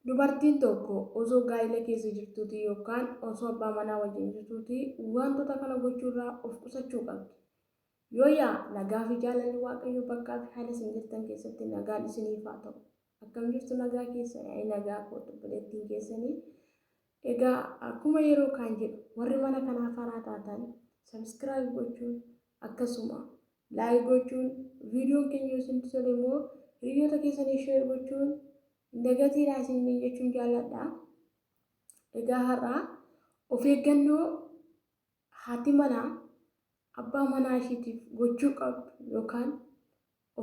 Dubartiin tokko osoo gaa'ila keessa jirtuutii yookaan osoo abbaa manaa wajjin jirtuutii wantoota kana gochuurraa of qusachuu qabdi. Yoo yaa nagaa fi jaalalli Waaqayyoo bakkaa fi haala isin jirtan keessatti nagaan isiniif haa ta'u. Akkam jirtu nagaa keessan ani nagaa kooti obboleettiin keessanii. Egaa akkuma yeroo kaan jedhu warri mana kanaa faraa taatan sabiskiraayib gochuun akkasuma Like gochuun videon keenya yoo isinitti tole immoo hiriyyoota keessaniif share gochuun hin dagatiinaa isiniin jechuun jaalladha. Egaa har'a of eeggannoo haati manaa abbaa manaa ishiitiif gochuu qabdu yookaan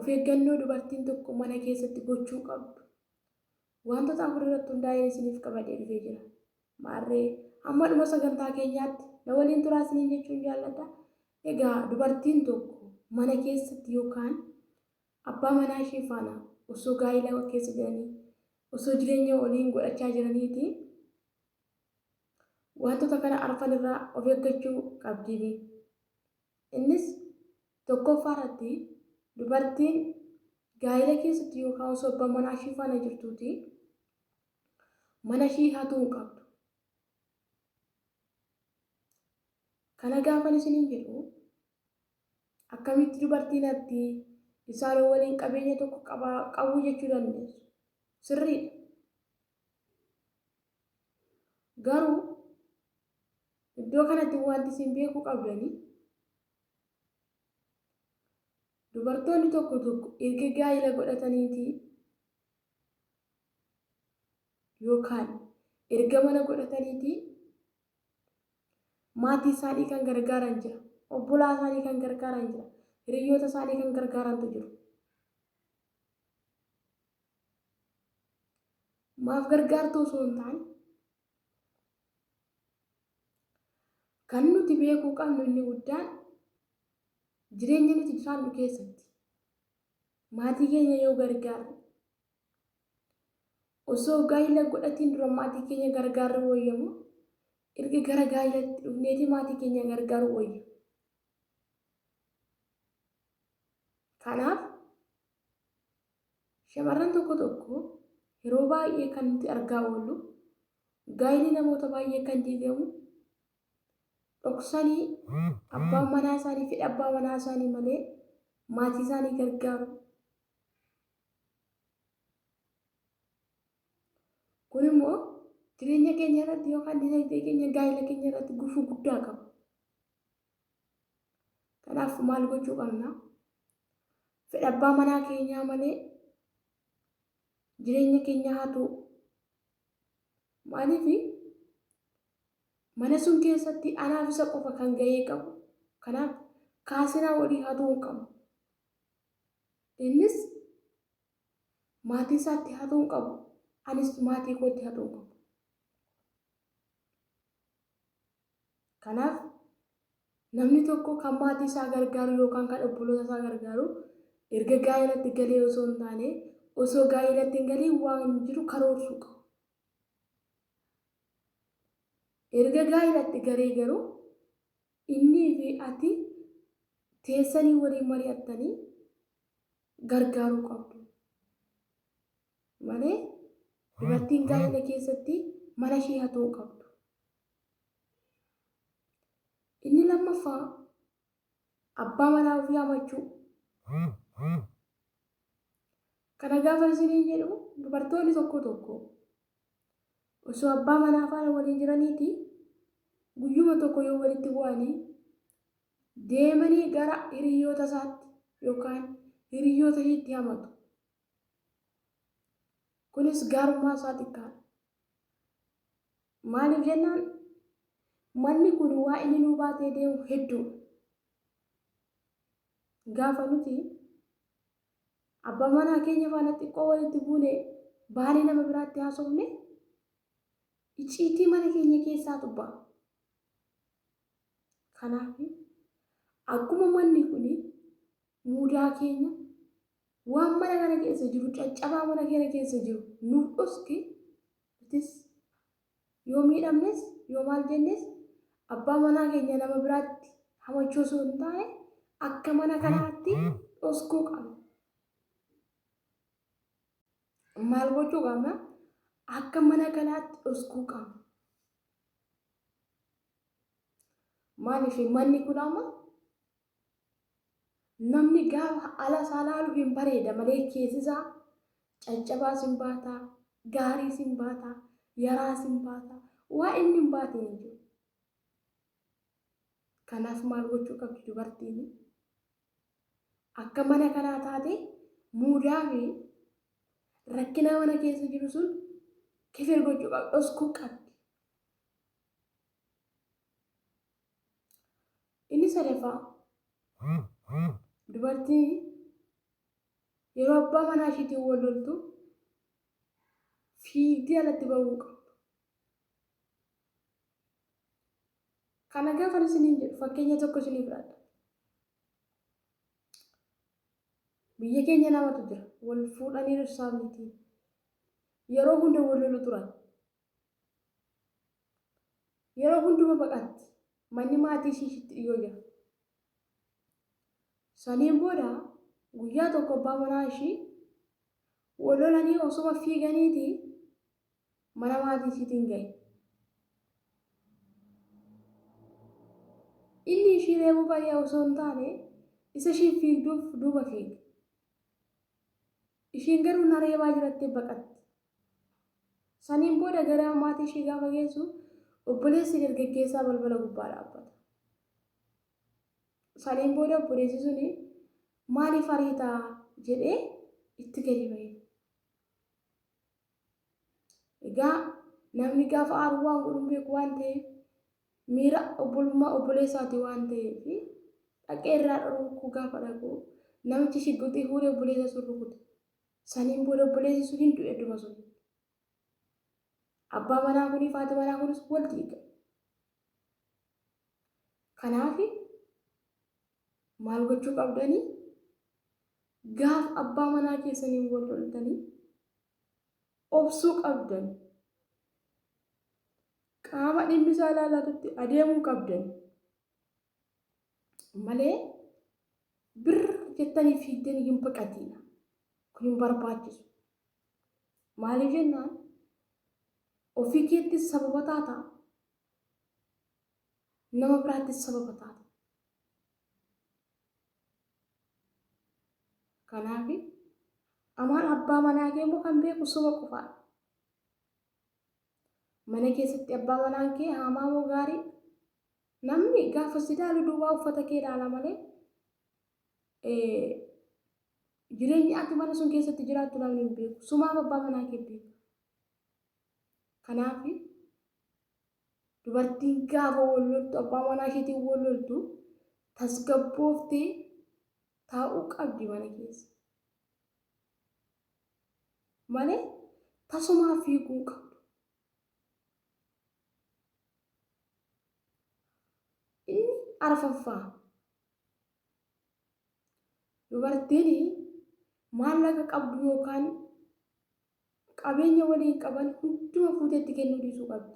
of eeggannoo dubartiin tokko mana keessatti gochuu qabdu Waantota afur irratti hundaa'een isiniif qabadhee dhufee jira. Maarree, hamma dhuma sagantaa keenyaatti na waliin turaa isiniin jechuun jaalladha. Egaa dubartiin tokko mana keessatti yookaan abbaa manaa ishee faana osoo gaa'ila keessa jiranii, osoo jireenya waliin godhachaa jiraniiti waantota kana arfan irraa of eeggachuu qabdii. Innis tokkoffaa irratti dubartiin gaa'ila keessatti yookaan osoo abbaa manaa ishii faana jirtuuti mana ishii hatuu hin qabdu. Kana gaafan isiniin jedhu akkamitti dubartiin hatti isaanii waliin qabeenya tokko qabaa qabuu jechuu dandeessu. Sirriidha. Garuu Iddoo kanatti wanti isin beekuu qabdani dubartoonni tokko tokko erga gaa'ila godhataniitii yookaan erga mana godhataniitii maatii isaanii kan gargaaran jira. Obbolaa isaanii kan gargaaran jira. Hiriyyoota isaanii kan gargaarantu jiru. Maaf gargaartuu osoo hin taane Kan nuti beekuu qabnu inni guddaan jireenya nuti jiraannu keessatti maatii keenya yoo gargaarru osoo gaa'ila godhatiin dura maatii keenya gargaarru wayyamu erga gara gaa'ilatti dhufneeti maatii keenya gargaaru wayya. Kanaaf Shamarran tokko tokko yeroo baay'ee kan nuti argaa oollu gaa'illi namoota baay'ee kan diigamu dhoksanii abbaan manaa isaanii fedha abbaa manaa isaanii malee maatii isaanii gargaaru. Kun immoo jireenya keenya irratti yookaan dinagdee keenya gaa'ila keenya irratti gufuu guddaa qaba. Kanaaf maal gochuu qabna? Fedha abbaa manaa keenyaa malee jireenya keenya hatuu. Maaliif mana sun keessatti anaaf isa qofa kan gahee qabu. Kanaaf kaasinaa walii hatuu hin qabu. Innis maatii isaatti hatuu hin qabu. Anis maatii kootti hatuu hin qabu. Kanaaf, namni tokko kan maatii isaa gargaaru yookaan kan obboloota isaa gargaaru erga gaa'elatti galee osoo hin taane, osoo gaa'elatti hin galiin waan jiru karoorsuu qaba. Erga gaa'elatti galee garuu innii fi ati teessanii waliin mari'attanii gargaaruu qabdu. malee dubartiin gaa'ila keessatti mana ishii hatuu hin qabdu. Inni lammaffaa abbaa manaa ofii hamachuu. Kana gaafa isiniin jedhu dubartoonni tokko tokko osoo abbaa manaa faana waliin jiraniiti guyyuma tokko yoo walitti bu'anii deemanii gara hiriyoota isaatti yookaan hiriyoota ishiitti hamatu. kunis gaarummaa isaa xiqqaadha. Maaliif jennaan manni kun waa inni nuu baatee deemu hedduudha. Gaafa nuti abbaa manaa keenya faana xiqqoo walitti buune baanee nama biraatti haasofne icciitii mana keenya keessaa tubba. Kanaaf akkuma manni kun muudaa keenya Waan mana kana keessa jiru caccabaa mana keenya keessa jiru nuuf dhoski nutis yoo miidhamnes yoo maal jennes abbaa manaa keenya nama biraatti hamachuu osoo hin taane akka mana kanaatti dhoskuu qabna. Maal gochuu qabna? Akka mana kanaatti dhoskuu qabna. Maaliif manni kun amma Namni gaafa ala isaa laalu hin bareeda malee keessi isaa caccabaas hin baata, gaariis hin baata, yaraas hin baata. Waa inni hin baate hin jiru. Kanaaf maal gochuu qabdi dubartiin? Akka mana kanaa taate muudaa fi rakkinaa mana keessa jiru sun kifir gochuu qabdi, dhoskuu qabdi. Inni sadaffaa dubartiin yeroo abbaa manaa ishiitiin wal loltu fiigdee alatti ba'uu qabdu. Kana gaafa isiniin jedhu fakkeenya tokko isinii fudhadha. Biyya keenya namatu jira wal fuudhanii dhirsaa miti. Yeroo hunda wal lolu turan. Yeroo hunduma baqatti. Manni maatii ishii ishitti dhiyoo jira. Saniin booda guyyaa tokko abbaa manaa ishii wal lolanii osuma fiiganiiti mana maatii ishiitiin ga'e. Inni ishii reebuu baay'ee osoo hin taane isa ishiin fiigduuf duuba fiige. Ishiin garuu na reebaa jirattee baqatti. Saniin booda gara maatii ishii gaafa geessu obboleessi dargaggeessaa balbala gubbaa dhaabbata. Saniin booda obboleessi suni maaliif ariita jedhee itti gadi ba'e. Egaa namni gaafa aaru waan godhu hin beeku waan ta'eef miira obbolummaa obboleessaati waan ta'eef dhaqee irraa dhorkuu gaafa dhaqu namichi shigguxii fuudhee obboleessa sun rukute. Saniin booda obboleessi sun hin du'e adduma sun. Abbaa manaa kunii fi haati manaa kunis wal diiga. Kanaaf maal gochuu qabdanii? Gaaf abbaa manaa keessaniin wal loltanii obsuu qabdan. Qaama dhimmi isaa ilaallatutti adeemuu qabdan. malee bir jettanii fiigdanii hin baqatiina kun hin barbaachisu maaliif jennaan ofii keettis sababa taata nama biraattis sababa taata kanaaf amaan abbaa manaa kee immoo kan beeku soba qofaa mana keessatti abbaa manaan kee haamaa moo gaarii Namni gaafa si ilaalu duwwaa uffata kee ilaala malee jireenya ati mana sun keessatti jiraattu namni hin beeku. Sumaaf abbaa manaa kee beeka. Kanaaf dubartiin gaafa wal loltu abbaa manaa isheetiin wal loltu tasgabbooftee taa'uu qabdi mana keessa. Malee tasumaa fiiguu hin qabdu. Inni arfaffaa dubartiin maallaqa qabdu yookaan qabeenya waliin qaban hunduma fuutee itti kennuu dhiisuu qabdi.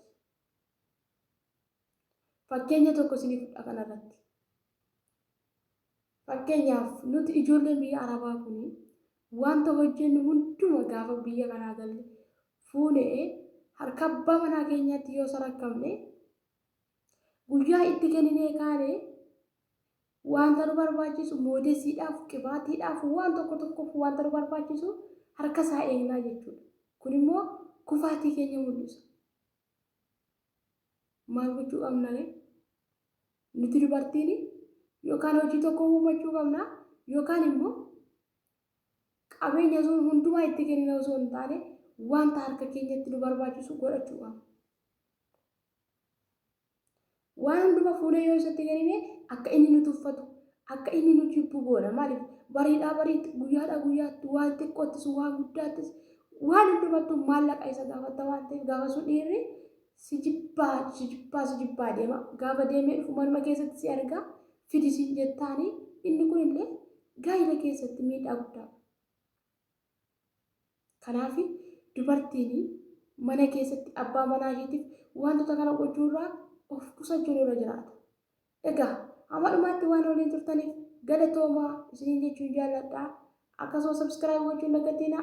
Fakkeenya tokko isiniif fudha kanarratti. Fakkeenyaaf, nuti ijoolleen biyya Arabaa kun wanta hojjennu hunduma gaafa biyya kanaa galle fuunee harka abbaa manaa keenyaatti yoo sarakkamne, guyyaa itti kenninee kaane wanta nu barbaachisu moodesiidhaaf, qibaatiidhaaf, waan tokko tokkoof wanta nu barbaachisu harka isaa eegnaa jechuudha. Kun immoo kufaatii keenya mul'isa. maal gochuu qabna ree? Nuti dubartiin yookaan hojii tokko uumachuu qabna yookaan immoo qabeenya sun hundumaa itti kennina osoo hin taane wanta harka keenyatti nu barbaachisu godhachuu qabna. Waan hundumaa fuunee yoo isatti kennine akka inni nu tuffatu, Akka inni nu jibbu goona. Maaliif? Bariidhaa bariitti, guyyaadhaa guyyaatti, waan xiqqoottis, waan guddaattis, waan hundumattuu maallaqa isa gaafatta waan ta'eef gaafa sun dhiirri si jibbaa, si jibbaa, si jibbaa deema. Gaafa deemee dhufu manuma keessatti si argaa fidi siin jettaani inni kunillee gaa'ila keessatti miidhaa guddaa qaba. Kanaaf dubartiin mana keessatti abbaa manaa ishiitiif waantota kana gochuu irraa of qusachuun irra jiraata. Egaa hamma dhumaatti waan waliin turtaniif galatoomaa isiniin jechuun jaalladha. Akkasuma subscribe gochuun dagatiinaa.